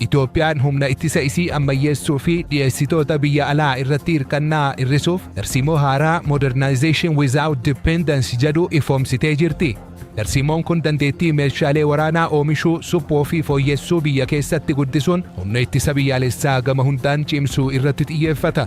Itoophiyaan humna ittisa isii ammayyeessuu fi dhiyeessitoota biyya alaa irratti hirkannaa hir'isuuf tarsiimoo haaraa Modernization Without Dependence jedhu ifoomsitee jirti. Tarsiimoon kun dandeettii meeshaalee waraanaa oomishuu, suphuu fi fooyyessuu biyya keessatti guddisuun humna ittisa biyyaalessaa gama hundaan cimsuu irratti xiyyeeffata.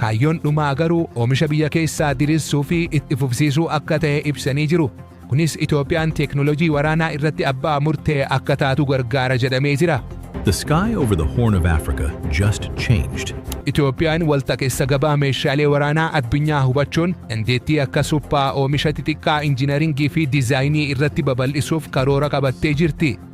Kaayyoon dhumaa garuu oomisha biyya keessaa dirirsuu fi itti fufsiisuu akka ta'e ibsanii jiru. Kunis Itoophiyaan teeknooloojii waraanaa irratti abbaa murtee akka taatu gargaara jedhamee jira. The sky over the Horn of Africa just changed. Itoophiyaan waltaqessa gabaa meeshaalee waraanaa addunyaa hubachuun dandeettii akka suphaa, oomisha xixiqqaa, injinaringii fi dizaayinii irratti babal'isuuf karoora qabattee jirti.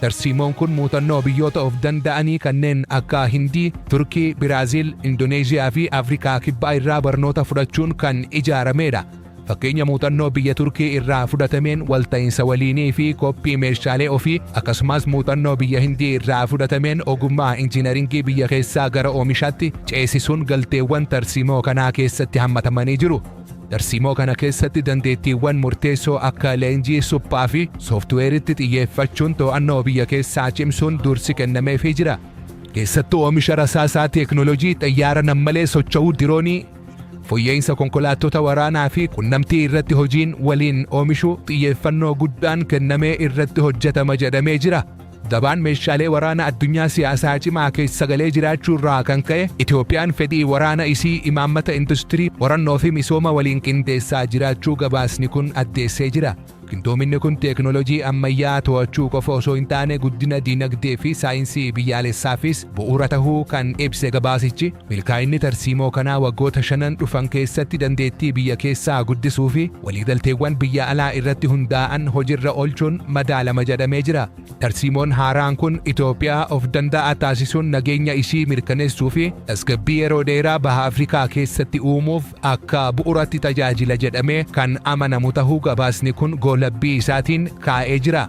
Tarsiimoon kun muuxannoo biyyoota of danda'anii kanneen akka Hindii, Turkii, Biraaziil, Indooneezhiyaa fi Afrikaa Kibbaa irraa barnoota fudhachuun kan ijaarameedha. Fakkeenya muuxannoo biyya Turkii irraa fudhatameen walta'iinsa waliinii fi koppii meeshaalee ofii akkasumas muuxannoo biyya Hindii irraa fudhatameen ogummaa injiinaringii biyya keessaa gara oomishaatti ceesisuun galteewwan tarsiimoo kanaa keessatti hammatamanii jiru. Tarsiimoo kana keessatti dandeettiiwwan murteessoo akka leenjii suphaa fi sooftiweeritti xiyyeeffachuun to'annoo biyya keessaa cimsuun dursi kennameefii jira. Keessattuu oomisha rasaasaa teeknooloojii xayyaara nammalee socho'uu diroonii, foyya'iinsa konkolaattota waraanaa fi qunnamtii irratti hojiin waliin oomishuu xiyyeeffannoo guddaan kennamee irratti hojjetama jedhamee jira. Gabaan meeshaalee waraana addunyaa siyaasaa cimaa keessa galee jiraachuu irraa kan ka'e Itoophiyaan fedhii waraana isii imaammata industirii, qorannoo fi misooma waliin qindeessaa jiraachuu gabaasni kun addeessee jira. Qindoominni kun teeknooloojii ammayyaa to'achuu qofa osoo hin taane guddina diinagdee fi saayinsii biyyaalessaafis bu'uura tahuu kan ibse gabaasichi, milkaa'inni tarsiimoo kanaa waggoota shanan dhufan keessatti dandeettii biyya keessaa guddisuu fi waliigalteewwan biyya alaa irratti hundaa'an hojirra olchuun madaalama jedhamee jira. Tarsiimoon haaraan kun Itoophiyaa of danda'aa taasisuun nageenya ishii mirkaneessuu fi tasgabbii yeroo dheeraa Baha Afrikaa keessatti uumuuf akka bu'uratti tajaajila jedhamee kan amanamu tahuu gabaasni kun goolabbii isaatiin kaa'ee jira.